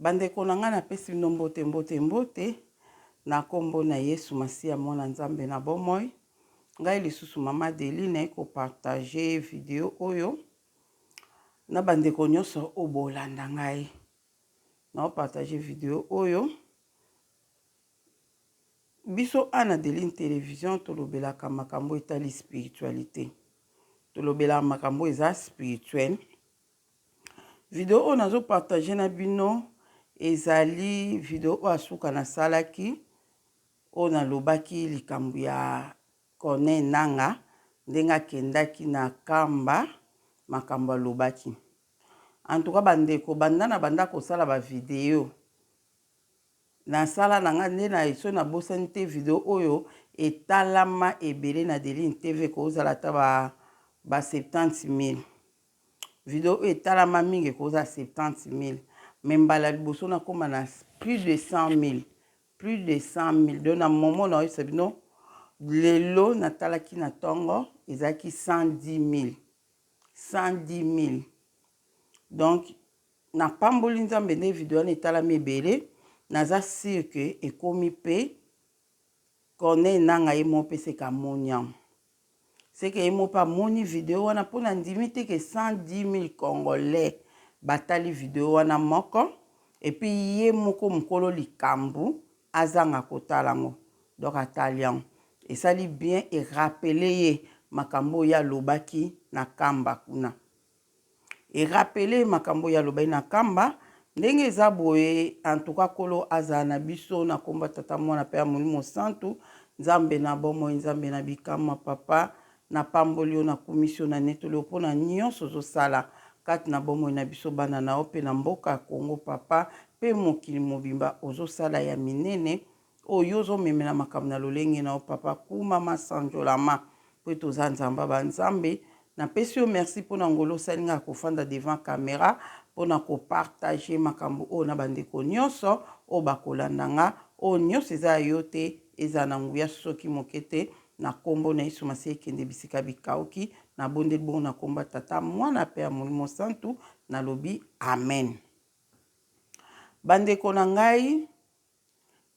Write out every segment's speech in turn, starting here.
Bandeko na ngai, napesi bino mbote, mbote, mbote na kombo na Yesu Masiya, mwana Nzambe na bomoi. Ngai lisusu mama Adeline naye kopartage video oyo na bandeko nyonso oyo bolanda ngai. Naopartage video oyo biso ana Adeline television tolobelaka makambo etali spiritualite, tolobelaka makambo eza spirituel Video oyo nazo partager na bino ezali video oyo asuka nasalaki oyo nalobaki likambo ya Corneille Nangaa ndenge akendaki na Kamba makambo alobaki. En tout cas bandeko banda na banda kosala ba video nasala na nga nde na eso nabosani te video oyo etalama ebele na Deline TV ekozala ata ba 70 000. Video oyo etalama mingi ekoki kozala 70000 mais mbala liboso nakoma na plus de 100000 plus de 100000 donc na momo naoyebisa bino lelo natalaki na ntongo ezalaki 110000 110000 donc napamboli nzambe nde video wana etalami ebele naza sire ke ekomi mpe corneille nanga ye moo mpe seka moniam Ce que ye moko pe amoni video wana po na ndimi te ke 110000 congolais ba tali video wana moko et puis ye moko mukolo likambu azanga ko tala ngo donc a tali yango esali bien e rappeler ye makambu oyo ye alobaki na kamba kuna. E rappeler makambo oyo alobaki na Kamba, ndenge eza boye, en tout cas Nkolo azala na biso, na kombo ya Tata, Mwana pe ya Molimo Santu, Nzambe na bomoi, Nzambe na bikamwa, Papa, na pamboli yo, na kumisi yo, na netoli yo po na nionso ozo sala kati na bomoi na biso bana na yo pe na mboka Congo Papa, pe mokili mobimba ozo sala ya minene, Oyo yo ozo memela makambo na lolenge na yo papa kumama sanjolama po ete oza nzambe ya ba nzambe na pesi yo merci po na ngolu osali nga ya ko fanda devant camera po na ko partager makambo oyo na ba ndeko nionso oyo ba ko landa nga oyo nionso eza ya yo te ezala na nguya soki moke te na kombo na yesu masiya kende bisika bikauki na bondeli bongo na kombo ya tata muana pe ya molimo santu na lobi amen ba ndeko na ngai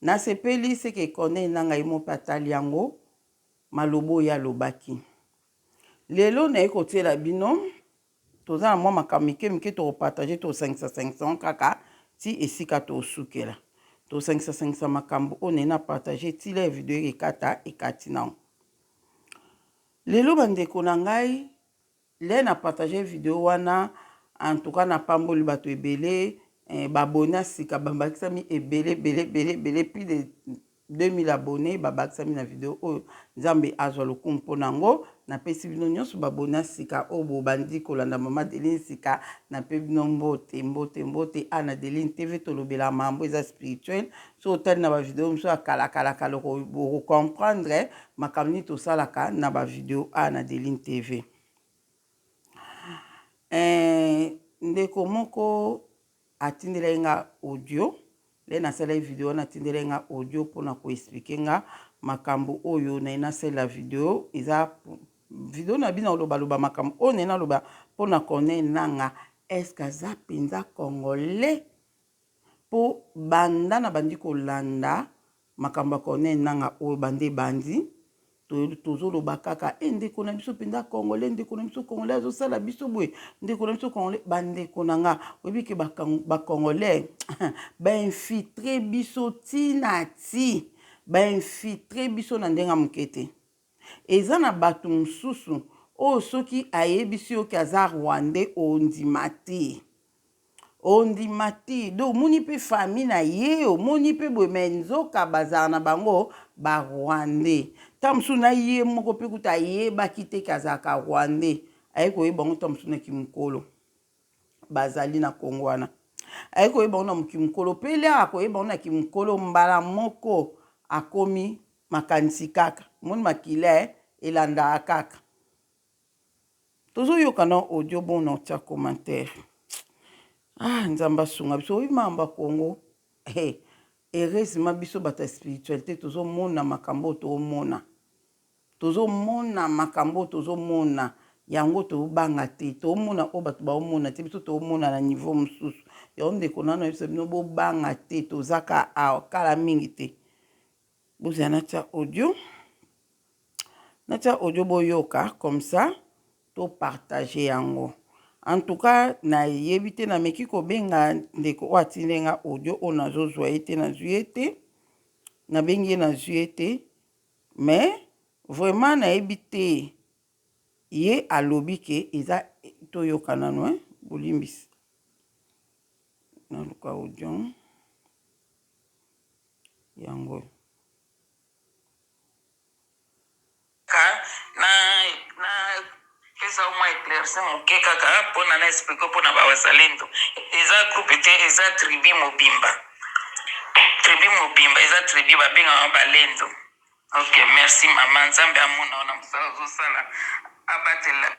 Nasepeli ce que Corneille Nangaa ye moko mpe atali yango, maloba oyo ye alobaki. Lelo naye kotiela bino, toza na mwa makambo mike mike toko partager, tosangisa sangisa yango kaka ti esika tokosukela. Tosangisa sangisa makambo oyo naye na partager ti lere video ekekata ekati nango. Lelo bandeko na ngai. Lè na partager video wana en tout cas na pamboli bato ebele eh, ba abonnes ya sika ba bakisami ebele ebele ebele ebele plus de 2000 abonnes ba bakisami na video oyo nzambe azwa lokumu po nango na pesi bino nionso ba abonnes ya sika oyo bo bandi kolanda maman Adeline sika na pe bino mbote mbote mbote awa na Adeline TV tolobela mambo eza spirituel soki otali na bavideo mosusu ya kalakalaka loko okokomprendre makambo nini tosalaka na bavideo a na delin tv eh, ndeko moko atindelaki nga audio le nasalaki video wana atindelaki nga audio mpona koexplike nga makambo oyo naye nasalela video eza video na bino olobaloba makambo oyo naye naloba mpona corneille nanga eske aza mpenza congolais Po banda na bandi kolanda makambo ya Corneille Nanga oyo banda ebandi tozo loba kaka eh ndeko na biso penza congolais ndeko na biso congolais azo sala biso boye ndeko na biso congolais ba ndeko na nga oyebi ke ba congolais ba infiltre biso ti na ti ba infiltre biso na ndenge ya moke te Eza na batu mususu oyo soki ayebisi yo ke aza rwandais ondima te ondima te donc omoni pe famille na ye omoni pe boye mais nzoka bazala na bango ba rwandais tango mosusu na ye moko pe kutu ayebaki te ke azalaka rwandais aye koyeba yango tango mosusu na ki mukolo bazali na Congo wana aye koyeba yango na mokili mokolo mpe lere akoyeba yango na kimokolo mbala moko akomi makanisi kaka moni makila eh elandaka kaka tozoyoka na audio bon na otia commentaire ah nzambe asunga biso oyebi makambo ya Congo eh heureusement biso bato ya spiritualité tozomona makambo oyo toomona Tozo mona makambo oyo tozo mona yango tozo banga te tozo mona oyo batu bazo mona te biso tozo mona na niveau mususu yango ndeko nanu nayebisa bino bo banga te toza ka awa kala mingi te bozela natia audio natia audio boyoka comme ça to partager yango en tout cas nayebi te nameki kobenga ndeko oyo atindeli nga audio oyo nazozwa ye te nazwi ye te nabengi ye nazwi ye te Mais vraiment nayebi te ye alobi ke eza toyoka nanu hein bolimbisa naluka audio yango oyo. Pesa au moins eclairci muke kaka pona na explique pona ba wazalendo eza groupe te eza tribu mobimba tribu mobimba eza tribu ba benga yango ba lendo ok merci maman nzambe amona yo na musala ozo sala abatela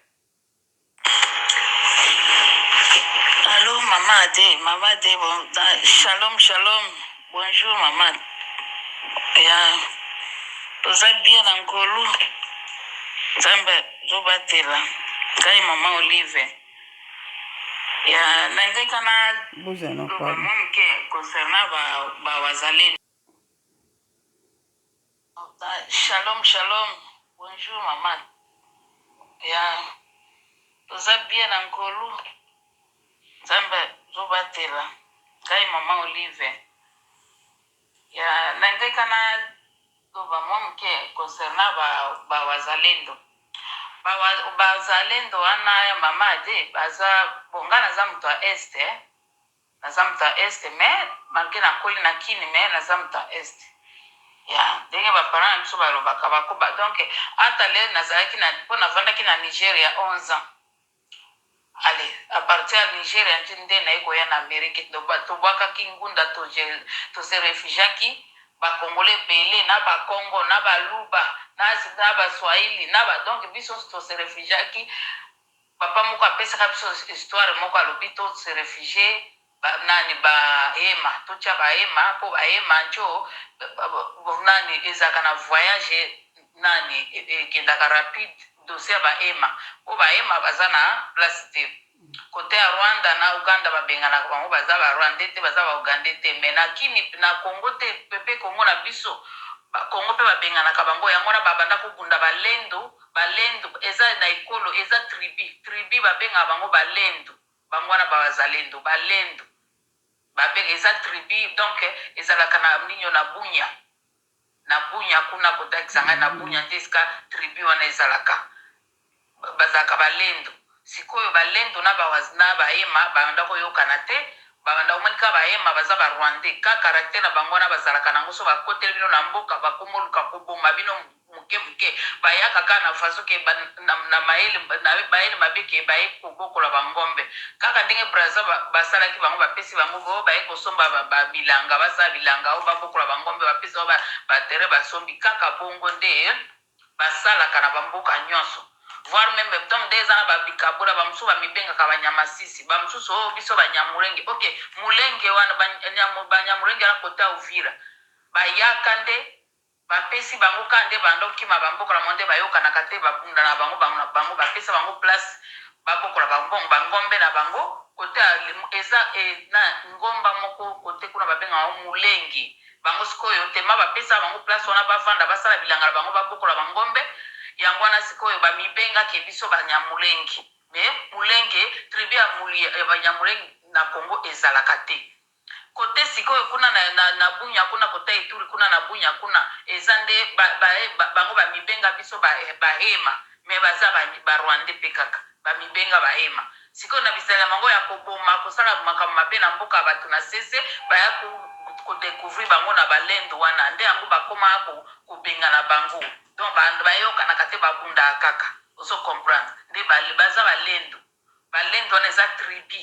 Allo maman ade maman ade bon shalom shalom Bonjour maman ya toza bien na ngolu nzambe azo batela ngai maman olive ya na ngai kana loba mwa moke concernant ba wazalendo Shalom shalom bonjour maman ya toza bien na ngolu nzambe azo batela ngai maman olive ya na ngai kana loba mwa moke concernant ba ba wazalendo ba wa- bazalendo wana ya mama ade baza bonga naza moto ya este eh. Naza moto ya Est mais malgre nakoli na Kin mais naza moto ya Est ya ndenge ba parents na biso balobaka bako ba donc ata le nazalaki na po navandaki na Nigeria 11 ans ale a partir ya Nigeria nde nde naye koya na Amerique donc ba tobuakaki ngunda to je to se refugiaki ba congolais ebele na ba kongo na ba luba na na ba swahili na ba donc biso nionso to se refugiaki Papa moko apesaka biso histoire moko alobi to se refugier ba nani ba hema totia ba hema po ba hema njo nani ezalaka na voyage nani ekendaka rapide dossier ya ba hema po ba hema baza na place te cote ya Rwanda na Ouganda babenganaka bango baza ba Rwandais te baza ba Ougandais te mais na kin na Congo te pe Congo na biso ba Congo pe babenganaka bango yango wana babanda kobunda ba lendo Balendu eza na ekolo eza tribu tribu babengaka bango balendu bango wana ba wazalendo balendu babe eza tribu donc ezalaka na ninio na bunya na bunya kuna kota kisangani na bunya nde esika tribu wana ezalaka bazalaka balendu Sikoyo ba lendo na ba wazna ba ema ba banda ko yokana te ba banda ko moni ka ba ema baza ba rwandais ka caractère na bango wana ba zalaka na ngo soki ba koteli bino na mboka ba komo luka ko boma bino muke muke ba yaka kaka na façon ke ba na na mayele na mayele mabe ke ba ye ko bokola ba ngombe kaka ndenge brazza ba ba salaki bango ba pesi bango bo ba ye ko somba ba ba bilanga ba sala bilanga o ba bokola ba ngombe ba pesa ba ba terrain ba sombi kaka bongo nde Basalaka na ba mboka nionso voir meme donc nde eza na ba bikabola ba mosusu ba mibengaka ba nyamasisi ba mosusu oh biso ba nyamulenge ok mulenge wana ba ba nyamulenge wana cote ya uvira ba yaka nde ba pesi bango ka nde banda okima ba mboka na bango nde ba yokanaka te ba bunda na bango bango na bango ba pesa bango place ba bokola ba mbongo ba ngombe na bango cote ya eza eh na ngomba moko cote kuna ba bengaka yango mulenge bango sikoyo tema ba pesa bango place wana ba vanda ba sala bilanga na bango ba bokola ba ngombe yango wana sikoyo ba mibenga ke biso ba nyamulenge mais mulenge tribu ya muli ya ba nyamulenge na congo ezalaka te cote sikoyo kuna na na na bunya kuna kota ituri kuna na bunya kuna eza nde ba ba bango ba mibenga biso ba ba hema mais baza ba ba rwandais pe kaka Bamibenga bahema sikoyo na bizalela mango ya koboma, kosala makambo mabe na mboka ya bato na sese. Baya ko decouvrir bango na ba lendo wana nde yango bakoma kobengana bango donc ba bayokanaka te babundaka kaka ozo comprendre nde ba baza ba lendo. Ba lendo wana eza tribu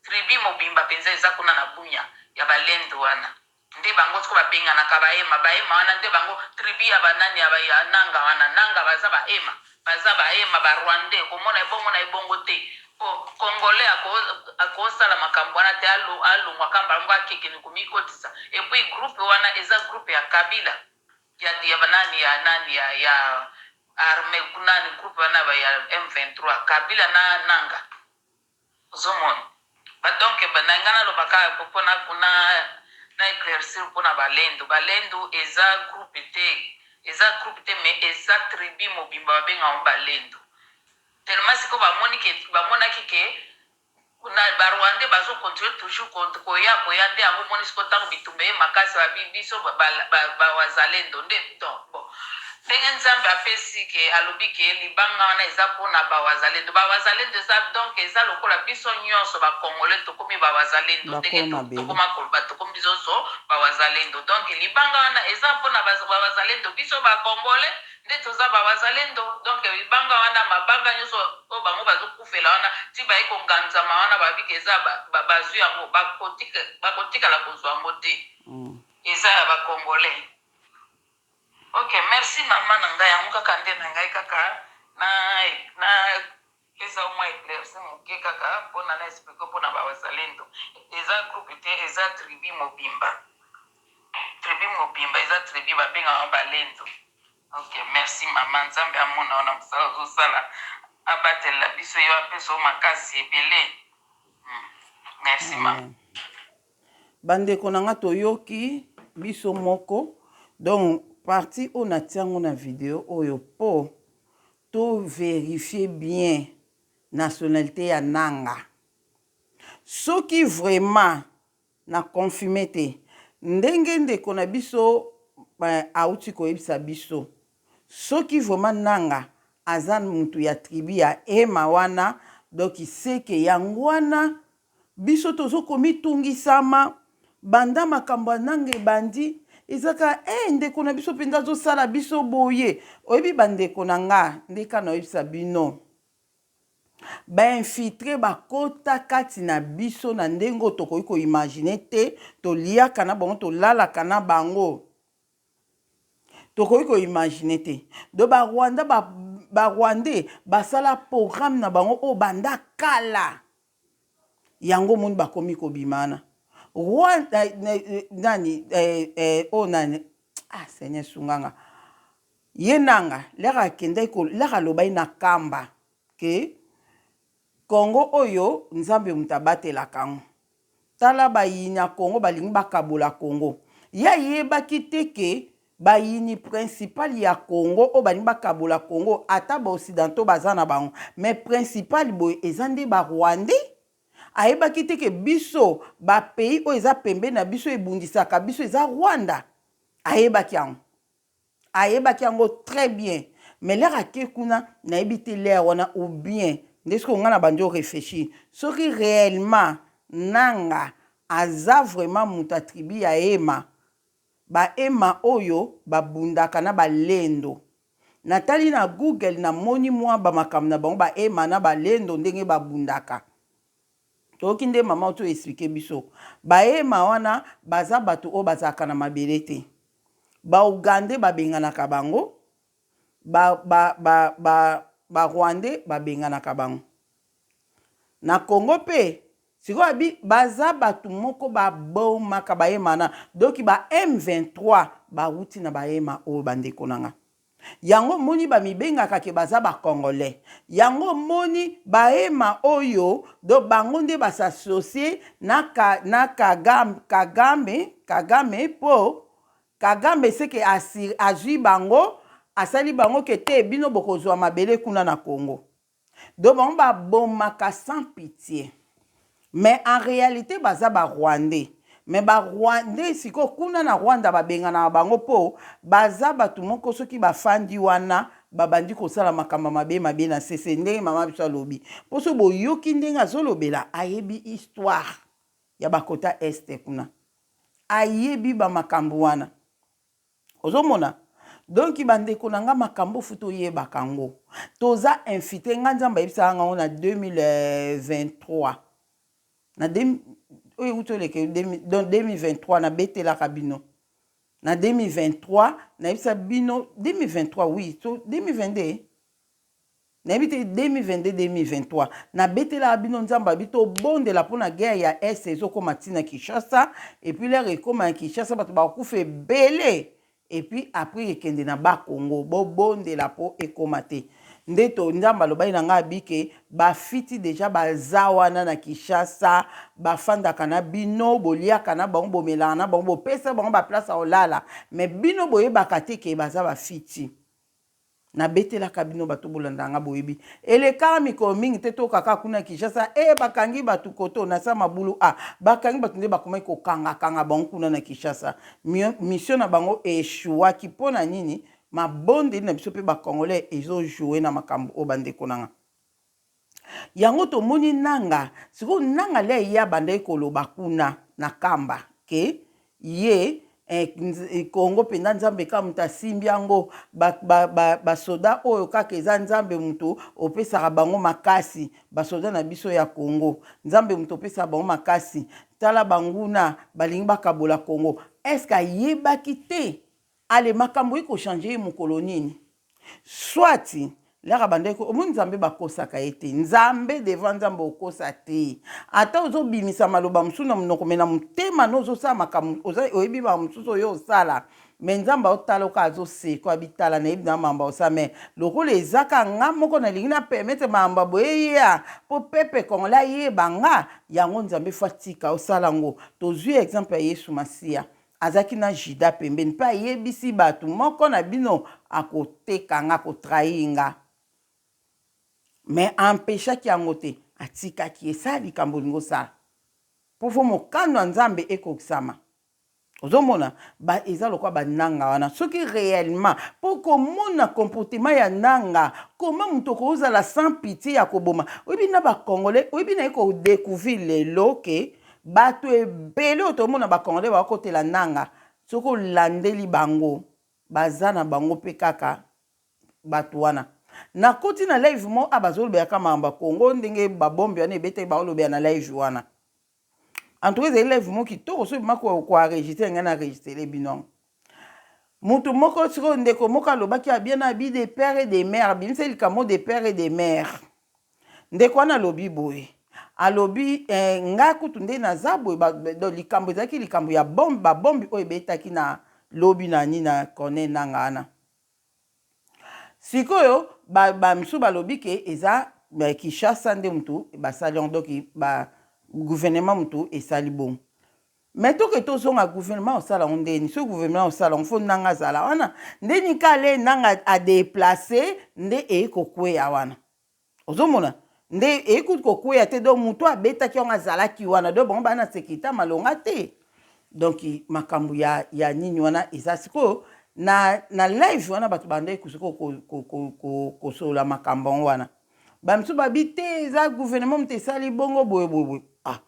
tribu mobimba penza eza kuna na bunia ya ba lendo wana Nde bango sikoyo babenganaka Bahema. Bahema wana nde bango tribu ya ba nani, ya ba ya Nanga wana. Nanga baza Bahema. Baza Bahema, ba Rwandais. Komona ebongo na ebongo te. Po Congolais ako, ako sala makambo wana te. Alo, alongwa kaka mbala moko akekende komikotisa. Et puis groupe wana eza groupe ya Kabila. Ya, ya ba nani, ya nani, ya, ya armee, nani groupe wana ya ba ya M23. Kabila na Nanga. Ozo mona? Ba donc ba na nga na loba ka po po na na na eclaircir po na ba lendu. Ba lendu eza groupe te, eza groupe te mais eza tribu mobimba ba benga yango ba lendu. Tellement sikoyo ba moni ke ba monaki ke na ba rwandais bazo continuer toujours ko koya koya nde yango omoni sikoyo tangu bitumba eye makasi ba bi biso ba ba ba wazalendo nde donc bon. Ndenge nzambe apesi ke alobi ke libanga wana eza po na ba wazalendo ba wazalendo eza donc eza lokola biso nionso ba congolais tokomi ba wazalendo ndenge tokoma koloba tokomi bisoso ba wazalendo donc libanga wana eza po na ba wazalendo biso ba congolais nde toza ba wazalendo donc libanga wana mabanga nionso oyo bango bazo kufela wana ti baye ko nganzama wana babi ke eza bazui yango bako tikala kozua yango te eza ya ba congolais. Ok merci maman na ngai yango kaka nde na ngai kaka na na pesa yo mwa eclairci moke kaka pona na explique yo pona ba wazalendo eza groupe te eza tribu mobimba tribu mobimba eza tribu ba benga yango balendo ok merci maman nzambe amona yo na mosala ozo sala abatelela biso yo apesa yo makasi ebele merci maman. Amen. Ba ndeko na nga toyoki biso moko donc partie oyo natie yango na video oyo po to verifier bien nationalite ya Nanga soki vraiment na confirmer te ndenge ndeko na biso awuti koyebisa biso soki vraiment Nanga aza mutu ya tribu ya Hema wana donc ce que yango wana Biso tozo komitungisama banda makambo ya nanga ebandi eza kaka eh ndeko na biso penza azo sala biso boye oyebi ba ndeko na nga nde ka naoyebisa bino ba infiltre ba kota kati na biso na ndenge oyo tokoki ko imagine te toliaka na bango tolalaka na bango tokoki ko imagine te do ba rwanda ba ba rwandais basala programme na bango oyo banda kala yango omoni bakomi kobima wana roi nani oyo nani ah seigneur sunga nga ye nanga lere akendaki lere alobaki na kamba ke congo oyo nzambe moto abatelaka yango tala bayini ya congo balingi bakabola congo ye ayebaki te ke Bayini principal ya Congo oyo balingi bakabola Congo ata ba occidentaux baza na bango mais principal boye eza nde ba rwandais? Ayebaki te que biso ba pays oyo eza pembeni na biso ebundisaka biso eza Rwanda? Ayebaki yango? Ayebaki yango très bien mais l'heure ake kuna nayebi te l'heure wana ou bien nde sikoyo nga na bandi o reflechir soki reellement Nanga aza vraiment mutu ya tribu ya Hema Bahema oyo babundaka na balendo. Natali na Google namoni mwa ba makambo na bango bahema na balendo ndenge babundaka. Toyoki nde mama oyo to expliquer biso. Bahema wana baza bato oyo bazalaka na mabele te. Ba Ougandais babenganaka bango, ba ba ba ba Rwandais babenganaka bango. Na congo pe sikoyo abi baza batu moko ba bomaka ba hema wana donc ba M23 ba wuti na ba hema oyo ba ndeko na nga. Yango omoni ba mibengaka ke baza ba congolais. Yango omoni ba hema oyo donc bango nde ba s'associer na ka na kagam kagame kagame po kagame ce ke asir azui bango asali bango ke te bino boko zua mabele kuna na congo. Donc bango ba bomaka sans pitie mais en realite baza ba rwandais mais ba rwandais sikoyo kuna na rwanda ba benganaka bango po baza batu moko soki ba fandi wana ba bandi kosala makambo ya mabe mabe na sese ndenge mama biso alobi po soki boyoki ndenge azolobela ayebi histoire ya ba kota est kuna ayebi ba makambo wana Ozo mona? Donc ba ndeko na nga makambo faut to yebaka ngo. Toza infite, nga Nzambe ayebisaka nga ngo na 2023. Na de, oyo ewuti oleke, donc 2023 na betelaka bino. Na 2023, na yebisa bino, 2023 oui, to 2022, Nayebi te 2022 2023 na betelaka bino nzambe abi tobondela mpona guerre ya est ezokoma ti na kinshasa epuis lere ekoma ya kinshasa bato bakokufa ebele epuis apres ekende na ba congo bobondela mpo ekoma te nde to nzambe alobaki na ngai abi ke bafiti deja baza wana na kinshasa bafandaka na bino boliaka na bango bomelaka na bango bopesa bango baplace ya kolala me bino boyebaka te ke baza bafiti Nabetelaka bino bato bolandaka nga boyebi eleka mikolo mingi te toyoka kaka kuna Kinshasa eh bakangi batu koto na sa mabulu ah bakangi batu nde bakomaki kokanga kanga bango kuna na Kinshasa mission na bango e echouaki pona nini mabondeli na biso pe ba congolais ezo jouer na makambu oyo bandeko nanga Yango tomoni Nanga sikoyo Nanga le ye abandaki koloba kuna na kamba ke ye eh, Congo mpenza Nzambe kaka moto asimbi yango basoda ba, ba oyo kaka eza Nzambe moto opesaka bango makasi basoda na biso ya Congo Nzambe moto opesaka bango makasi tala banguna balingi bakabola Congo eske ayebaki te Allez makambo iko changer ye mokolo nini? Soit lere abandaki ko omoni nzambe ba kosaka ye te nzambe devant nzambe okosa te ata ozo bimisa maloba mosusu na monoko me na motema no ozo sala makambo oza oyebi ba mosusu oyo osala me nzambe aotala oka azo seko abitala nayebi na mambo osa me lokola eza ka nga moko na lingi na permettre mambo boye ya po pepe congolais ayeba nga yango nzambe fo atika osala ngo tozui exemple ya yesu masiya Azalaki na Judas pembeni, mpe ayebisi bato, Moko na bino akoteka nga, akotrahir nga. Mais a empechaki yango te, atikaki ye, sala likambo olingi osala, mpo faut mokano ya Nzambe ekokisama. Ozo mona? Ba, eza lokola ba Nanga wana, soki reellement, mpo oko mona comportement ya Nanga, comment moto okoki ozala sans pitie ya koboma? Oyebi na ba Congolais, oyebi naye ko decouvrir lelo que Bato ebele oyo tomona ba congolais bakotela Nanga soki olandeli bango baza na bango pe kaka bato wana na koti na live mo a bazolobela ka makambo ya Congo ndenge ba bombe wana ebetaki baolobela na live wana en tout cas ezali live mo kitoko soki bima ko enregistre ngai na enregistre bino yango. Mutu moko sikoyo ndeko moko alobaki ya bien abi de père et de mère abimisa likambo de père et de mère ndeko wana alobi boye alobi eh, nga kutu nde naza boye likambo ezalaki likambo ya bombe babombe oyo ebetaki na lobi na nini na cornel nanga wana sikoyo bamisu ba balobi ke eza eh, kinshasa nde mutu basali yango donc ba gouvernement mutu esali bongo Mais toke tozonga gouvernement osala yango ndeni soki gouvernement osala yango fo nanga azala wana ndeni kale nanga adeplace nde eye kokweya wana ozomona nde eye kutu kokweya te donc moto abetaki yango azalaki wana donc bango bana sekirite ya malonga te donc makambo ya, ya nini wana eza sikoyo na, na live wana bato bandaki kosikoyo kosolola ko, ko, ko, ko, ko makambo yango wana bamisusu babi te eza gouvernement moto esali bongo boye boye boye ah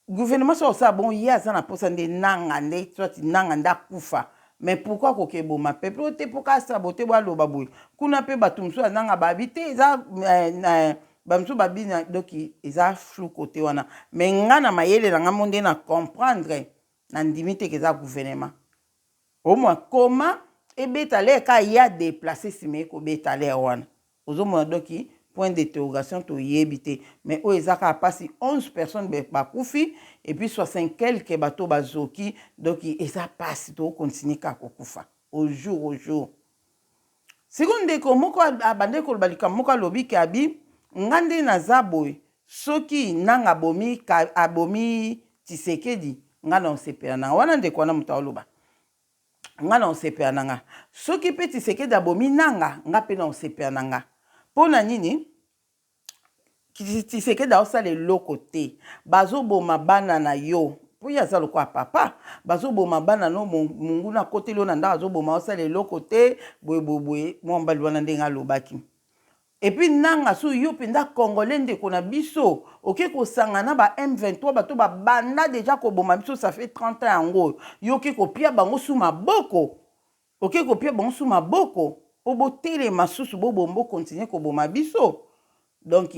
Gouvernement soki akosala bongo ye aza na posa nde nanga nde soit nanga nde akufa mais pourquoi akoki eboma peuple oyo te po kaka sabote bo aloba boye kuna pe batu mosusu ya nanga babi te eza ba mosusu babi na donc eza flou cote wana mais nga na mayele na nga mo nde na comprendre na ndimi te ke eza gouvernement omwa koma ebeta ler kaka ye a deplace sima ye kobeta ler wana Ozo mona donc point d'interrogation to yebi te mais oyo eza kaka pasi 11 personnes ba kufi et puis 60 quelques bato oyo ba zoki donc eza pasi to continue kaka ko kufa au jour au jour. Sikoyo ndeko moko a bandaki ko loba likambo moko a lobi ke abi nga nde na za boye soki nanga a bomi a bomi tshisekedi nga nao sepela nanga wana ndeko wana moto ao loba nga na osepela na nga soki pe tisekedi abomi nanga nga pe na osepela na nga pona nini tisekedi aosala eloko te bazoboma bana na yo mpo ye aza lokola papa bazoboma bana no monguna akoteli yo na ndako azoboma osala eloko te boyeboyeboye mwa mobali wana ndenge alobaki Et puis nanga soki yo penza congolais ndeko na biso oke kosanga na ba M23 bato ba banda deja koboma biso ça fait 30 ans yango oyo yo oke kopia bango su maboko oke kopia bango su maboko po botelema susu bo bo bo continuer koboma biso donc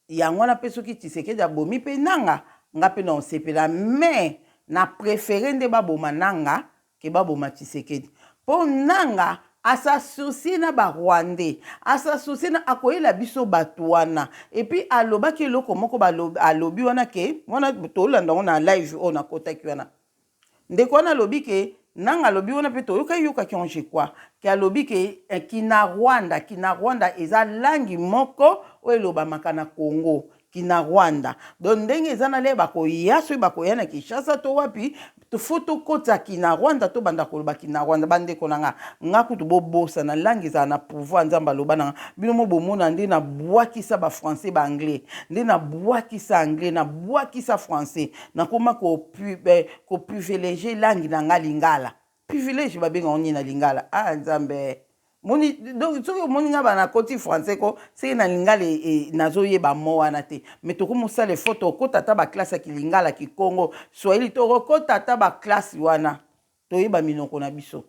yango wana pe soki Tshisekedi abomi pe nanga nga pe na osepela mais na prefere nde baboma nanga que ba boma tshisekedi po nanga a sa soucie na ba rwandais a sa soucie na akoyela biso batu wana et puis a lobaki eloko moko ba alobi wana que wana tolanda ngo na live oyo na kotaki wana ndeko wana alobi que nanga alobi wana pe toyoka yoka ki je crois que alobi que eh, kina rwanda kina rwanda eza langi moko oyo elobamaka na congo Kinarwanda donc ndenge eza na lait bakoya soki bakoya na Kinshasa to wapi faut tokotisa Kinarwanda tobanda koloba Kinarwanda bandeko na nga nga kutu bobosana langue ezala na pouvoir Nzambe aloba na nga bino mo bomona nde na bwakisa ba français ba anglais nde na bwakisa anglais na bwakisa français nakoma ko privilege langue na nga lingala Privilège ba benga ngo nini na lingala ah nzambe eh moni donc soki omoni nga ba na koti français ko seke na lingala e, e, nazo yeba mo wana te mais toko mosala effort tokota ata ba classe ya kilingala kikongo swahili tokokota ata ba classe wana toyeba minoko na biso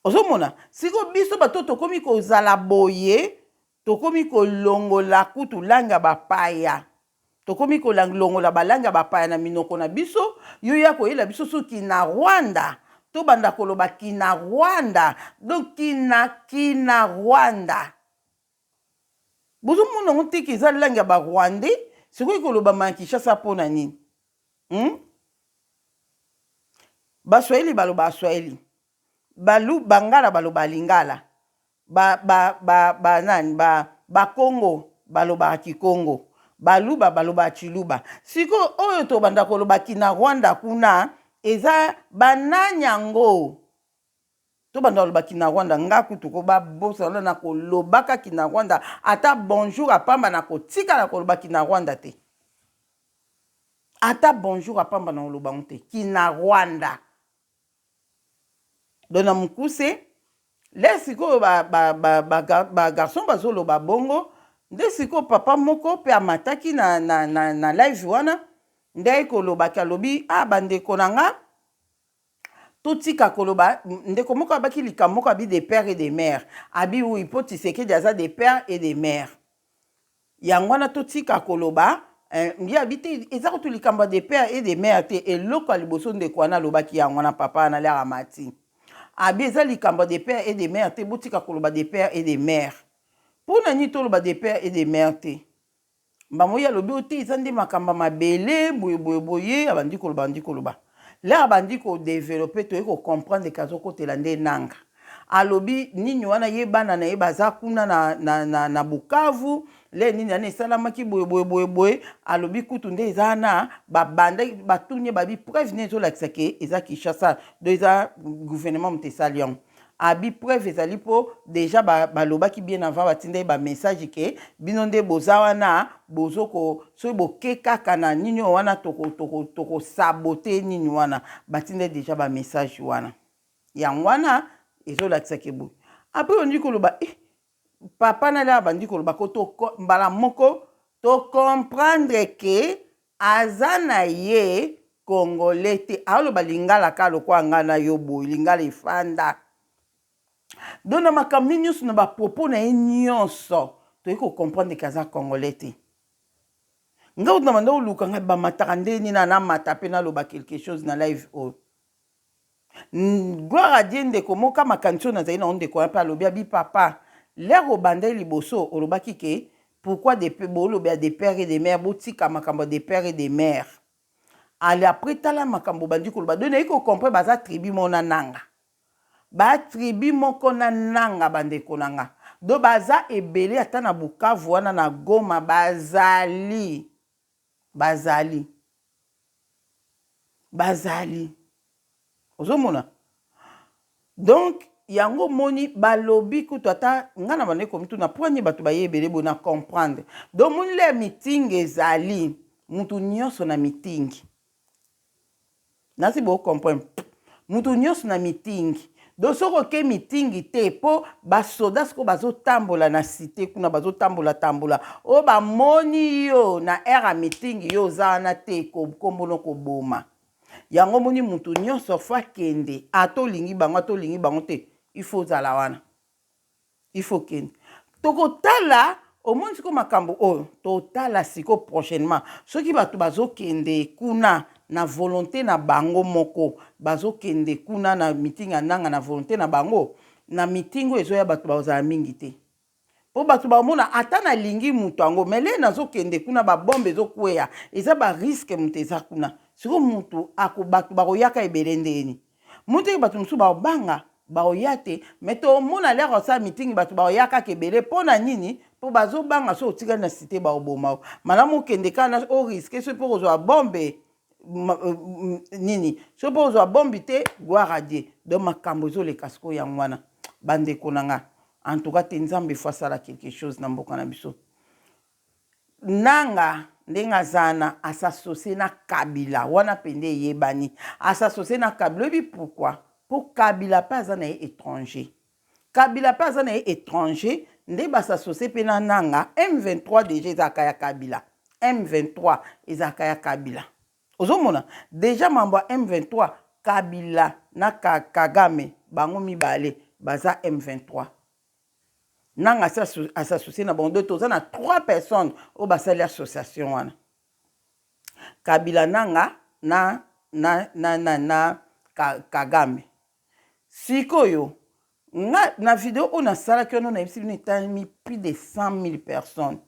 ozomona siko biso bato tokomi kozala boye Tokomi kolongola kutu langue ya bapaya. Tokomi kolongola ba langue ya bapaya na minoko na biso. Yo ya koyela biso sous kinarwanda. Tobanda koloba kinarwanda. Donc kina, kinarwanda. Bozo mona ngo te que eza langue ya ba rwandais? Sikoyo ekolobama na Kinshasa pona nini? Hum? Ba swahili balobaka swahili. Balu, bangala balobaka lingala. Ba ba ba ba nani ba bakongo balobaka kikongo baluba balobaka tshiluba sikoyo oyo tobanda koloba kinarwanda kuna eza ba nani yango tobanda koloba kinarwanda nga kutu ko ba bosana na na kolobaka kinarwanda ata bonjour ya pamba na kotikala koloba kinarwanda te ata bonjour ya pamba na koloba yango te kinarwanda donc na mokuse lè sikoyo ba ba ba ba ba garçon bazoloba bongo nde sikoyo papa moko pe amataki na na na na live wana nde aye koloba ke alobi ah ba ndeko na nga totika koloba ndeko moko abaki likambo moko abi de père et de mère abi oui po tshisekedi aza de père et de mère Yango wana totika koloba eh, ngi abi te eza kutu likambo ya de père et de mère te eloko ya liboso ndeko wana alobaki yango wana papa wana lere amati abi eza likambo ya de père et de mère te botika koloba de père et de mère mpo na nini toloba de père et de mère te mbamo ye alobi oyo te eza nde makambo ya mabele boye boye boye abandi koloba abandi koloba Leur abandi ko developpe toye ko comprendre ke azo kotela nde nanga alobi nini wana ye bana na ye baza kuna na na na na bukavu leur nini wana esalamaki boye boye boye boye alobi kutu nde eza wana babandaki batuni ye babi preuve nini ezolakisa ke eza kinshasa do eza gouvernement moto esali yango abi preuve ezali mpo deja balobaki ba bien avant batinda ye bamessage ke bino nde boza wana bozo ko soki boke kaka na nini oyo wana tokosabote toko, toko, toko nini wana batinda ye deja bamessage wana yango wana ezolakisa ke boye apres ondi koloba eh, papa na lia abandi koloba ko mbala moko tocomprendre ke Aza na ye congolais te aloba lingala kaka lokola nga na yo boye lingala efanda donc na makambo ne nionso na ba propos na ye nionso toye ko comprendre ke aza congolais te nga kutu na banda koluka nga bamataka ndenge nini na mata pe naloba quelque chose na live oyo Gloire à Dieu ndeko moka makanisi oyo nazali na yo ndeko wana pe alobi abi papa l'heure obandaki liboso olobaki ke pourquoi de bolobela de père et de mère botika makambo ya de père et de mère ale après tala makambo obandi koloba donc nayi ko comprendre baza tribu moko na nanga ba tribu moko na nanga bandeko na nga donc baza ebele ata na Bukavu wana na Goma bazali Bazali. Bazali. Ozo mona? Donc, yango omoni balobi kutu ata nga na bande komituna po ani bato baye ebele boye na comprendre. Donc, omoni lè meeting ezali, moto nyonso na meeting. nasi bo comprendre mutu nyonso na meeting donc soki oke meeting te mpo basoda sikoyo bazotambola na site kuna bazotambola tambola oyo bamoni yo na aire ya meeting yo oza wana te nkombo no koboma yango omoni mutu nyonso fo akende ata olingi bango ata olingi bango te il faut ozala wana il faut okende tokotala omoni siko makambo oyo totala siko prochainement soki bato bazokende kuna na volonte na bango moko bazokende kuna na meeting ya nanga na volonte na bango na meeting oyo ezoya bato bazala mingi te mpo bato bamona ata nalingi moto yango me lei nazokende kuna babombe ezokweya eza bariske moto eza kuna siko moto bato bakoyaka ebele ndeni Omoni te ke bato mosusu bakobanga, bakoya te. Mais tomona lere osala meeting bato bakoya kaka ebele. Po na nini? Po bazobanga soki otikali na cite bakoboma yo. Malamu okende kaka na o risquer soki pe okozwa bombe nini? Soki pe okozwa bombe te gloire à Dieu. Donc makambo ezoleka sikoyo yango wana ba ndeko na nga. En tout cas te Nzambe il faut asala quelque chose na mboka na biso. Nanga ndenge aza na a s'associer na kabila wana pende eyebani a s'associer na kabila oyebi pourquoi po kabila pe aza na ye etranger kabila pe aza na ye etranger nde ba s'associer pe na nanga M23 dejà ezalaka ya kabila M23 ezalaka ya kabila ozo mona dejà mambo ya M23 kabila na kagame bango mibale baza M23 nanga à s'associer na bango dote oza na trois personnes oyo basali association wana kabila nanga na na na na, na ka, kagame sikoyo nga na video oyo nasalaki wana nayebisi bino etalemi plus de 100 000 personnes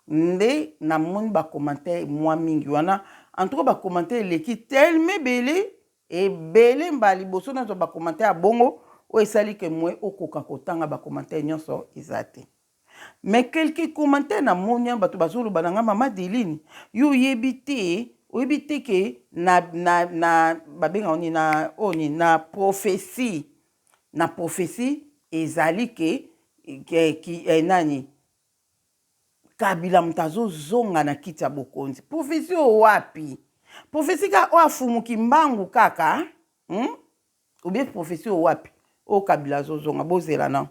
nde namoni bacommentaire mwa mingi wana en tout cas bacommentaire eleki teleme ebele Ebele mbala liboso nazwa ba commentaires ya bongo oyo esali que moyen okoka kotanga ba commentaires nionso eza te. Mais quelques commentaires namoni wana batu bazoloba na nga mama Adeline yo oyebi te oyebi te que na na na babengaka nini na oyo nini na prophetie na prophetie ezali que eh, nani Kabila moto azo zonga na kiti ya bokonzi. Prophetie oyo wapi? Prophetie ka oyo afumu kimbangu kaka hmm? Obie prophetie oyo wapi? Oyo oh, Kabila azo zonga bozela na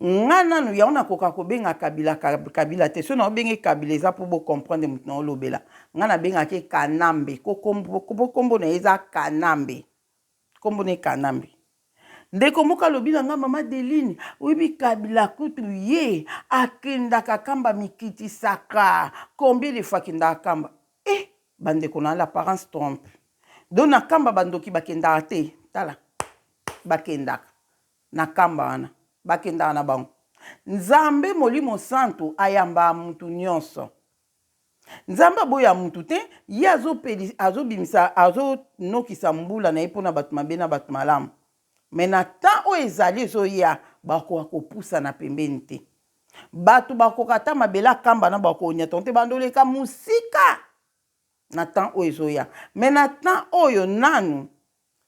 nga nanu yango nakoka kobenga kabila kabila te so naobenge kabila eza mpo bocomprendre moto na olobela nga nabengaki kanambe nkombo na ye eza kanambe Kombo ne kanambe. Ndeko moko alobi na nga mama Deline, oyebi Kabila kutu ye akendaka kamba mikitisaka combien de fois akendaka kamba? Eh ba ndeko na l'apparence trompe. Donc na kamba ba ndoki ba kendaka te? Tala ba kendaka na kamba wana ba kendaka na bango. Nzambe molimo santu ayamba mutu nionso. Nzambe aboya mutu te ye azo peli azo bimisa azo nokisa mbula na ye pona batu mabe na batu malamu mais na temps oyo ezali ezoya bakoka kopusana pembeni te batu bakoka ata mabele akamba na bakonyatano te bando leka musika na temps oyo ezoya mais na temps oyo nanu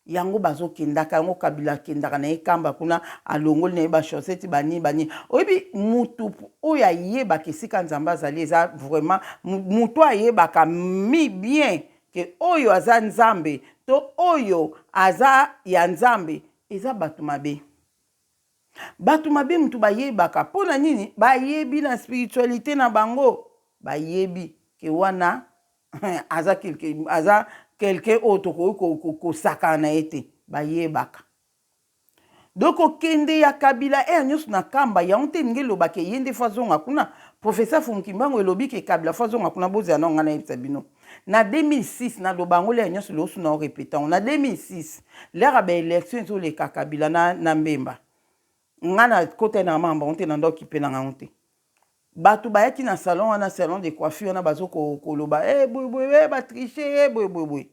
Yango bazo kendaka yango kabila akendaka naye kamba kuna alongoli naye ba chaussette ba nini ba nini oyebi mutu oyo ayebaka esika nzambe azali eza vraiment mutu oyo ayebaka bien que oyo aza nzambe to oyo aza ya nzambe eza batu mabe batu mabe mutu bayebaka pona nini bayebi na spiritualite na bango bayebi que wana aza quelque aza quelqu'un oyo tokoki kosakana na ye te bayebaka donc kokende ya kabila ere nyonso na kamba yango te elingi eloba ke ye nde fo azonga kuna professeur fumukimbangu elobi ke kabila fo azonga kuna bozela nao ngai nayebisa bino na 2006 naloba yango lere nyonso leosu nao repete yango na 2006 lere ya baelection ezoleka kabila na, na mbemba ngai nakotaki na mamba yango te na ndoki mpe na ngango te Batu bayaki na salon wana salon de coiffure wana bazo koloba eh boye boye eh ba tricher eh boye boye boye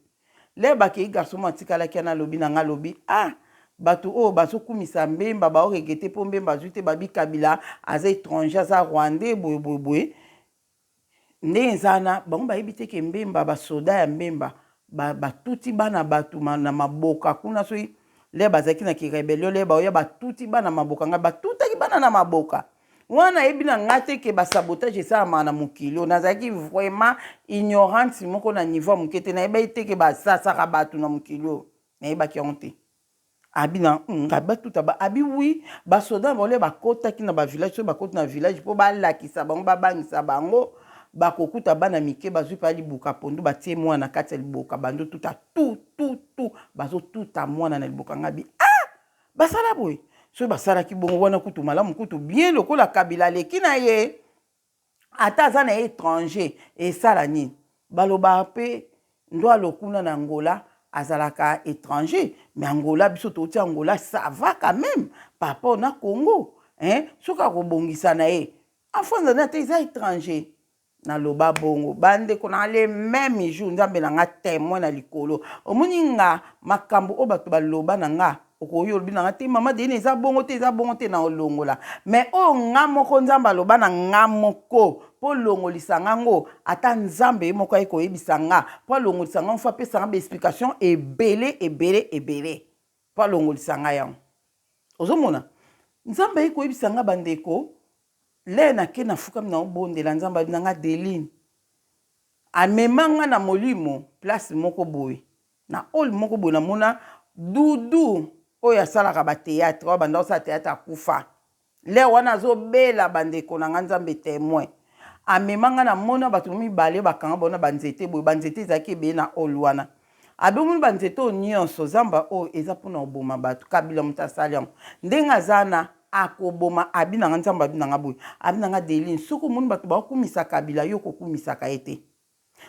lere bakeyi garçon moko atikalaki wana alobi na nga alobi ah batu oyo bazo kumisa mbemba bao regrette po mbemba azui te babi kabila aza etranger aza rwandais boye boye boye ndenge eza wana bango bayebi te ke mbemba ba soda ya mbemba batuti bana batu na maboka kuna soki lere bazalaki na ki rebellion lere baoya batuti bana maboka ngai batutaki bana na maboka wana nayebi na ngai te ke basabotage esalamaka na mokili oyo nazalaki vraiment ignorante moko na niveau ya moke te nayebaki te ke basasaka bato na mokili oyo nayebaki yango te abi na hmm, abi batuta ba abi wi basoda na baolia bakotaki na bavillage soki bakoti na village mpo balakisa bango babangisa bango bakokuta bana mike bazwi mpa liboka pondu batie mwana na kati ya liboka bandotuta tu tu tu bazotuta mwana na liboka ngabi Basala boye. Soki basalaki bongo wana kutu malamu kutu bien lokola Kabila aleki na ye ata aza na ye étranger esala nini baloba mpe ndwa lokuna na Angola azalaka étranger mais Angola biso touti Angola ça va quand même par rapport na Congo hein soki akobongisa na ye afanza na te eza étranger Na loba bongo ba ndeko na nga le meme jour nzambe na nga temoin na likolo omoni nga makambu oyo batu ba loba na nga okoyo olobi na nga te maman Deine eza bongo te eza bongo te na olongola mais oyo nga moko nzambe aloba na nga moko po olongolisa nga ngo ata nzambe ye moko aye koyebisa nga po alongolisa nga ngo faut apesa nga ba explication ebele ebele ebele po alongolisa nga yango ozo mona nzambe aye koyebisa nga ba ndeko Leh na ke na fukami na obondela nzambe alobi na nga deline amema nga na molimo place moko boye na hall moko boye na mona doudou oyo asalaka ba theatre oyo abanda kosala theatre akufa leh wana azo bela ba ndeko na nga nzambe temoin amema nga na mona batu mibale bakanga bona ba nzete boye ba nzete ezalaki ebele na hall wana Abenguli ba nzete oyo nionso zamba oyo eza pona koboma batu kabila mutu asali yango ndenge aza na akoboma abi nanga nzambe abi nanga boye abi nanga delin soki omoni batu ba kumisa kabila yo kokumisaka ye te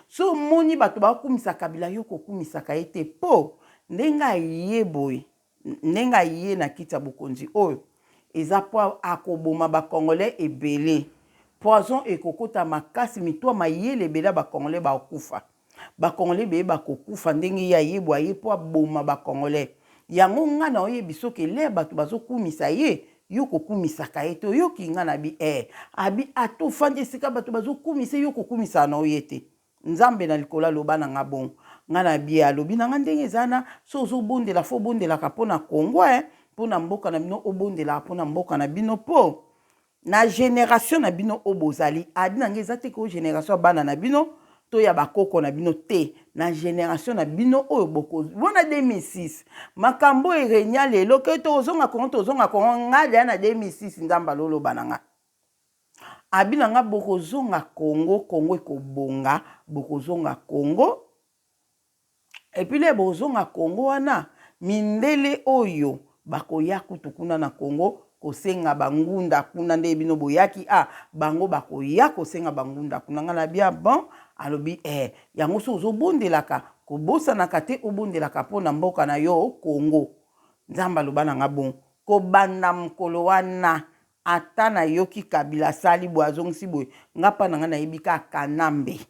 so omoni batu ba kumisa kabila yo kokumisaka ye te po ndenge aye boye Ndenge aye na kiti ya bokonzi oyo eza po akoboma ba congolais ebele poison ekokota makasi mitu ya mayele ebele ya ba congolais bakokufa ba congolais ebele bakokufa ndenge ye aye boye aye po aboma ba congolais yango nga na oyebiso ke leurs batu bazo kumisa ye yo okokumisaka ye te oyoki nga nabi ee abi ata ofandi esika batu bazo kumisa ye yo okokumisaka na yo ye te Nzambe na likolo aloba na nga bongo nga na bye alobi na nga ndenge eza na so ozo bondela fo obondelaka mpo na Congo eh mpo na mboka na bino obondelaka mpo na mboka na bino mpo na generation na bino oyo bozali adi na nga eza te ko generation ya bana na bino to ya bakoko na bino te na generation na bino oyo boko wana 2006 makambo erenia lelo ke tokozonga kongo tozonga kongo nga deya na 2006 nzambe aloloba na nga Abi na nga bokozonga Congo Congo ekobonga bokozonga Congo epuis le bokozonga Congo wana mindele oyo bakoya kutu kuna na Congo kosenga ba ngunda kuna ndenge bino boyaki ah bango bakoya kosenga ba ngunda kuna nga na bia bon alobi eh yango soki ozobondelaka kobosanaka te obondelaka mpo na mboka na yo Congo nzambe aloba na nga bon kobanda mokolo wana Ata na yoki kabila asali boye azongisi boye nga pa na nga na yebi ka kanambe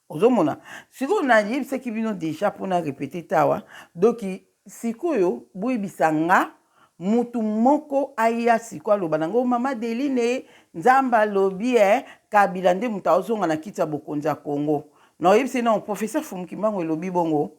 ozo mona sikoyo na yebisaki bino deja po na repete te awa donc sikoyo bo yebisa nga mutu moko aya sikoyo aloba na ngo mama Adeline nzambe alobi eh kabila nde mutu azo zonga na kiti ya bokonzi ya congo na oyebisa ye nao professeur Fumu Kimbangu elobi bongo oh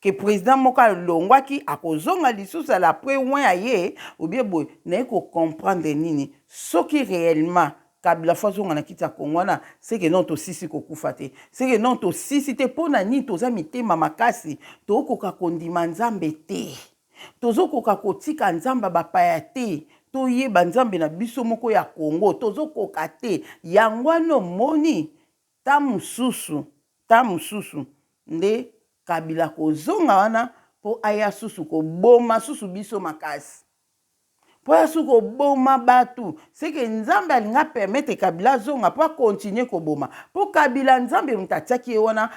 que president moko alongwaki akozonga lisusu à la après oin aye obie boye naye ko comprendre nini soki reellement kabila fo azonga na kiti ya congo wana seke non tosisi kokufa te seke non tosisi te mpo na nini toza mitema makasi tokoka kondima nzambe te tozokoka kotika nzambe ya bapaya te toyeba nzambe na biso moko ya congo tozokoka te yango wana omoni Ta mususu ta mususu nde kabila akozonga wana po aya susu koboma susu biso makasi po aya susu koboma batu seke nzambe alingi a permettre kabila azonga po a continue koboma po kabila nzambe mutu atiaki ye wana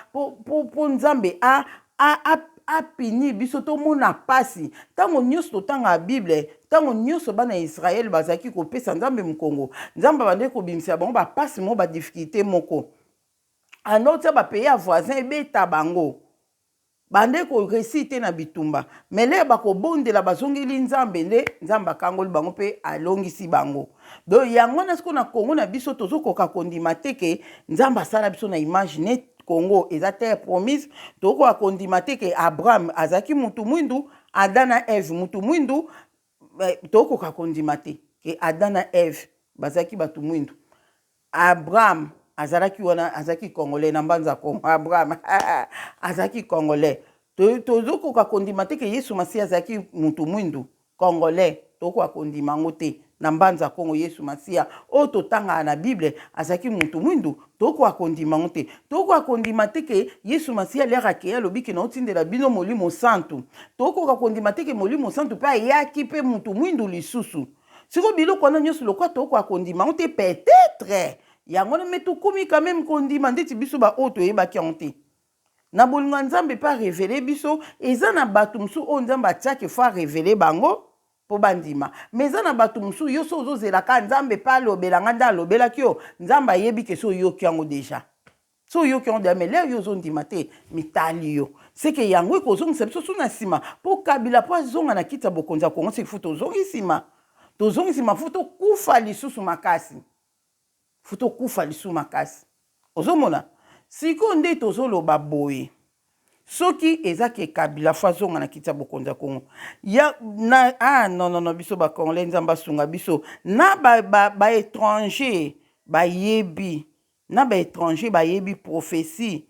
po nzambe a A, a, a punir biso tomona pasi. Tango nionso totangaka Bible, tango nionso bana ya Israël bazalaki kopesa Nzambe mokongo, Nzambe abandaki kobimisela bango ba pasi moko, ba difficultes moko. A no tia ba pays ya voisin ebeta bango. Bande ko reussir te na bitumba. Mais lelo bakobondela, bazongeli Nzambe nde Nzambe akangoli bango pe alongisi bango. Donc yango wana sikoyo na Congo na biso tozokoka kondima te ke Nzambe asala biso na image neti Congo eza terre promise tokoka kondima te ke Abraham azalaki mutu mwindu Adam na Eve mutu mwindu eh, tokoka kondima te ke Adam na Eve bazalaki bato mwindu Abraham azalaki wana azalaki congolais na mbanza kongo Abraham azalaki congolais tozokoka kondima te ke Yesu Masiya azalaki mutu mwindu Congolais tokoka kondima yango te na mbanza kongo yesu masiya oyo totangaka na bible azalaki mutu mwindu tokoka kondima yango te tokoka kondima te ke yesu masiya aliaka akeyi alobi ke naotindela bino molimo santu tokoka kondima te ke molimo santu pe ayaki pe mutu mwindu lisusu siko biloko wana nyonso lokola tokoka kondima yango te peut etre yango wana me tokomi quand meme kondima ndeti biso ba oyo toyebaki yango te Na bolingo ya Nzambe mpe a reveler biso, eza na batu mosusu oyo Nzambe atiaki faut a reveler bango mpo bandima. Mais eza na batu mosusu yo soki ozo zela kaka Nzambe mpe alobela nga nde alobelaki yo, Nzambe ayebi que si oyoki yango dejà. Si oyoki yango dejà mais l'heure yo ozo ndima te, mitali yo. C'est que yango eko zongisa biso su na sima mpo Kabila mpo azonga na kiti ya bokonzi ya Congo c'est qu'il faut tozongi sima. Tozongi sima faut tokufa lisusu makasi. Faut okufa lisusu makasi ozo mona sikoyo nde tozo loba boye soki eza ke kabila faut azonga na kiti ya bokonzi ya congo ya na ah non non non biso ba congolais nzambe asunga biso na ba ba ba etranger bayebi na ba etranger bayebi prophetie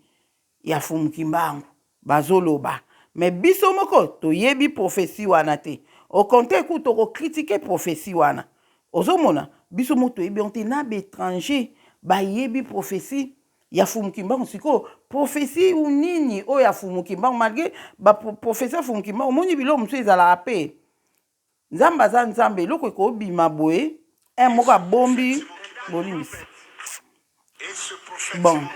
ya fumu kimbangu bazo loba mais biso moko toyebi prophetie wana te au contraire kutu toko critiquer prophetie wana ozo mona biso moko toyebi yango te na ba etrangers bayebi prophetie ya fumu kimbangu sikoyo prophetie ou nini oyo ya fumu kimbangu malgre ba prophetie ya fumu kimbangu omoni biloko mosusu ezalaka pe nzambe aza nzambe eloko ekobima boye un moko abombi bolimbisi bon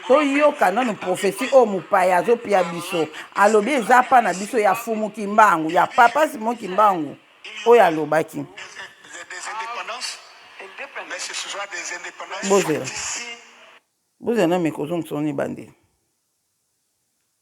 toyoka nano profesi oyo oh, mopaya azopia biso alobi eza pa na biso ya fumu kimbangu ya papa simo kimbangu oyo alobaki bozela bozela na mikozongisoni bandeli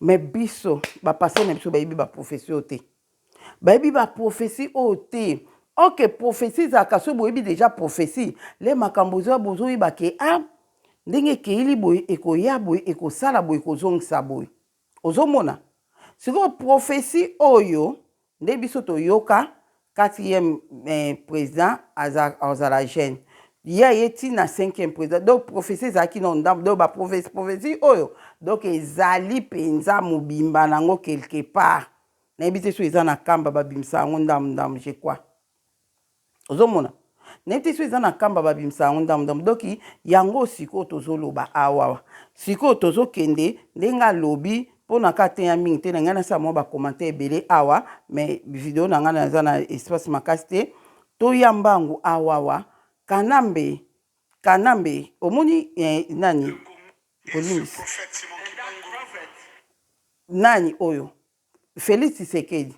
Mais biso ba pasteur na biso bayebi ba prophetie oyo te bayebi ba prophetie oyo te ok prophetie ezalaka soki boyebi deja prophetie le makambo oza bozoyeba ke a ndenge ekeili boye ekoya boye ekosala boye ekozongisa boye ozomona sikoyo prophetie oyo Nde biso toyoka quatrième president azala jeune ye aye ti na cinquième president donc prophetie ezalaki nanu ndambu donc ba prophetie oyo donc ezali penza mobimba nango quelque part nayebi te soki eza na kamba babimisaka yango ndambu ndambu je crois. Ozo mona neti soki eza na kamba ba bimisa yango ndambu ndambu donc yango oyo sikoyo tozo loba awa sikoyo tozo kende ndenge alobi po na ka teya mingi te na ngai na sala mua ba commentaire ebele awa mais video na ngai na eza na espace makasi te to ya mbangu awawa kanambe kanambe omoni eh, nani Nani oyo Felix tshisekedi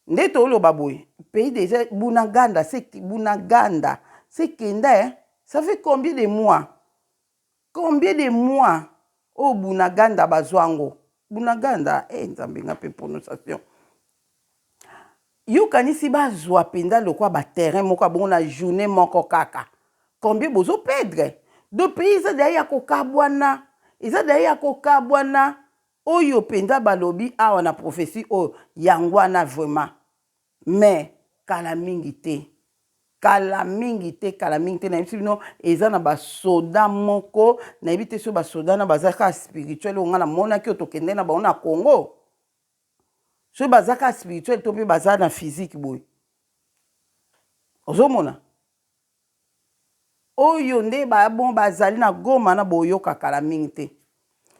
nde toloba boye pays dejà bunaganda se bunaganda se kenda eh ça fait combien de mois combien de mois oyo oh, bunaganda bazwa ngo bunaganda eh nzambe nga mpe prononciation yokanisi bazwa mpenza lokwa baterrain moko abongo na journée moko kaka combien bozo perdre do pays eza deya ya kokabwana eza deya ya kokabwana Oyo penza balobi awa na prophetie oyo yanguana vraiment mais kala mingi te kala mingi te kala mingi te nayebisi bino eza na ba soda moko nayebi te soki ba soda na baza kaka spirituel oyo nga na monaki oyo tokende na bango na congo soki baza kaka spirituel to pe baza na physique boye ozomona Oyo nde ba bon ba zali na goma na boyoka kala mingi te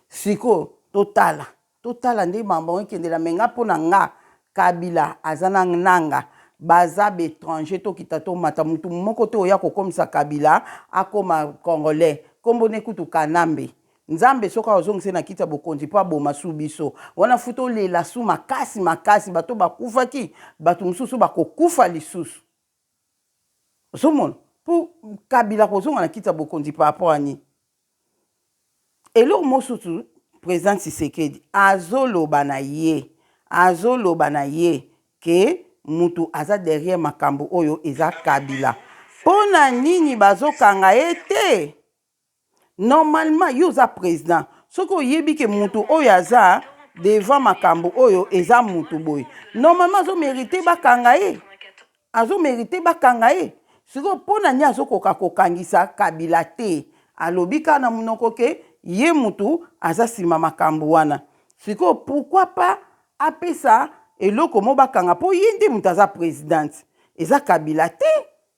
sikoyo to tala to tala nde mambo yango ekendela me nga po na nga kabila aza na nanga ba za ba etranger to kita to mata mutu moko te oya ko komisa kabila a koma congolais kombo ne kutu kanambe nzambe soki ako zongisa ye na kiti ya bokonzi po a boma su biso wana fu to lela su makasi makasi bato ba kufaki bato mususu ba ko kufa lisusu Ozomona po kabila kozonga na kiti ya bokonzi par rapport ya nini? Eloko mosusu president tshisekedi azoloba na ye azoloba na ye ke mutu aza derrière makambu oyo eza kabila pona nini bazokanga ye te? normalement yo oza president soki oyebi ke mutu oyo aza devant makambo oyo eza mutu boye normalement azo merite bakanga ye azo merite bakanga ye sikoyo mpo na nini azokoka kokangisa kabila te alobi kaka na monoko ke ye mutu aza nsima makambo wana sikoyo pourquoi pas apesa eloko mo bakanga mpo ye nde moto aza presidente eza kabila te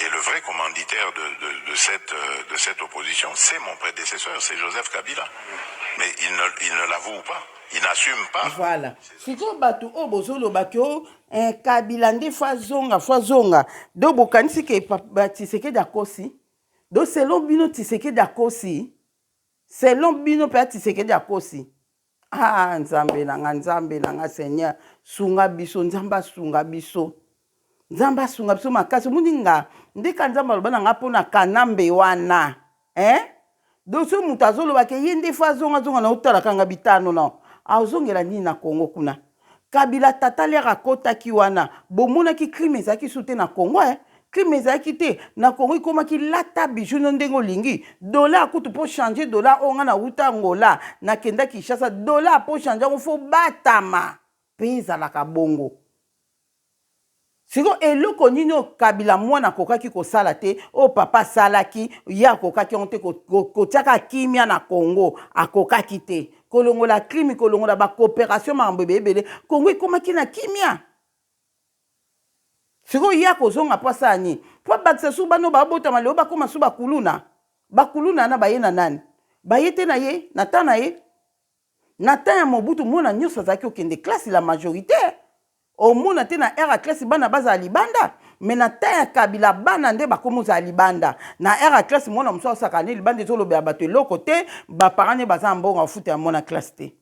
et le vrai commanditaire de de de cette de cette opposition c'est mon predecesseur c'est Joseph Kabila mais il ne il ne l'avoue pas il n'assume pas. Voilà sikoyo batu oyo bozoloba ke o eh, Kabila nde fo azonga fo azonga do bokanisi ke Tshisekedi akosi do selon bino Tshisekedi akosi selon bino mpe Tshisekedi akosi Ah nzambe na nga nzambe na nga seigneur sunga biso nzambe asunga biso nzambe asunga biso makasi omoni nga ndeka nzambe aloba na nga mpo na kanambe wana eh? donc soki moto azolobaka ye nde fo azongazonga na otalaka nga bitano na azongela nini na kongo kuna Kabila tata lere akotaki wana bomonaki crime ezalaki su te na Congo eh? Crime ezalaki te na Congo ikomaki lata bijou no ndenge olingi dollar kutu po changer dollar oyo nga na wuta Angola na kenda Kinshasa dollar po changer yango fo batama pays ezalaka bongo Sikoyo eloko nini oyo kabila mwana akokaki kosala te oyo papa asalaki ye akokaki yango te kotia kaka kimia na congo akokaki te kolongola crime kolongola ba cooperation makambo ebele ebele congo ekomaki na kimia sikoyo ye akozonga mpo asala nini mpo abakisa susu bana oyo babotama lelo bakoma susu bakuluna bakuluna wana baye na nani baye te na ye na temps na ye Na temps ya Mobutu mwana nyoso azalaki kokende classe la majorite omona te na heure ya classe bana bazala libanda mais na temps ya Kabila bana nde bakomi ozala libanda na heure ya classe mwana mosusu asaka ne libanda ezolobela bato eloko te ba parents ne baza na mbongo ya kofuta ya mwana classe te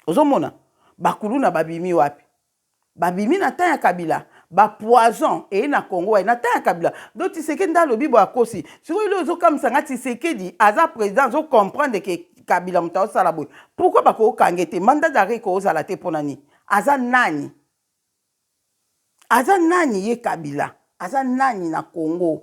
ozomona bakuluna babimi wapi Babimi na temps ya kabila ba poison eye na congo waye na temps ya kabila donc tisekedi nde alobi boye akosi sikoyo eloko ezokamwisa nga tisekedi aza president azo comprendre ke kabila moto aosala boye pourkui bakokange te manda dare ekoozala te mpona nini aza nani aza nani ye kabila aza nani na congo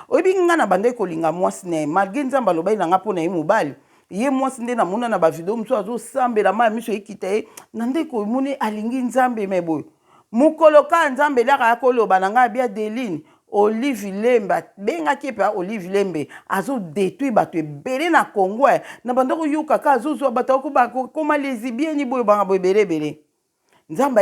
Oyebi nga na bandaki kolinga mwasi naye malgre nzambe alobaki na nga pona ye mobali ye mwasi nde na mona na ba video mosusu azo sambela ma miso ekita ye na ndeki omoni alingi nzambe me boye mokolo ka nzambe laka ya koloba na nga bia deline olive lembe abengaki epe olive lembe azo detruit bato ebele na congo eh. na bandaki oyoka ka azozwa bato akokoma lesibieni boye banga boye ebele ebele nzambe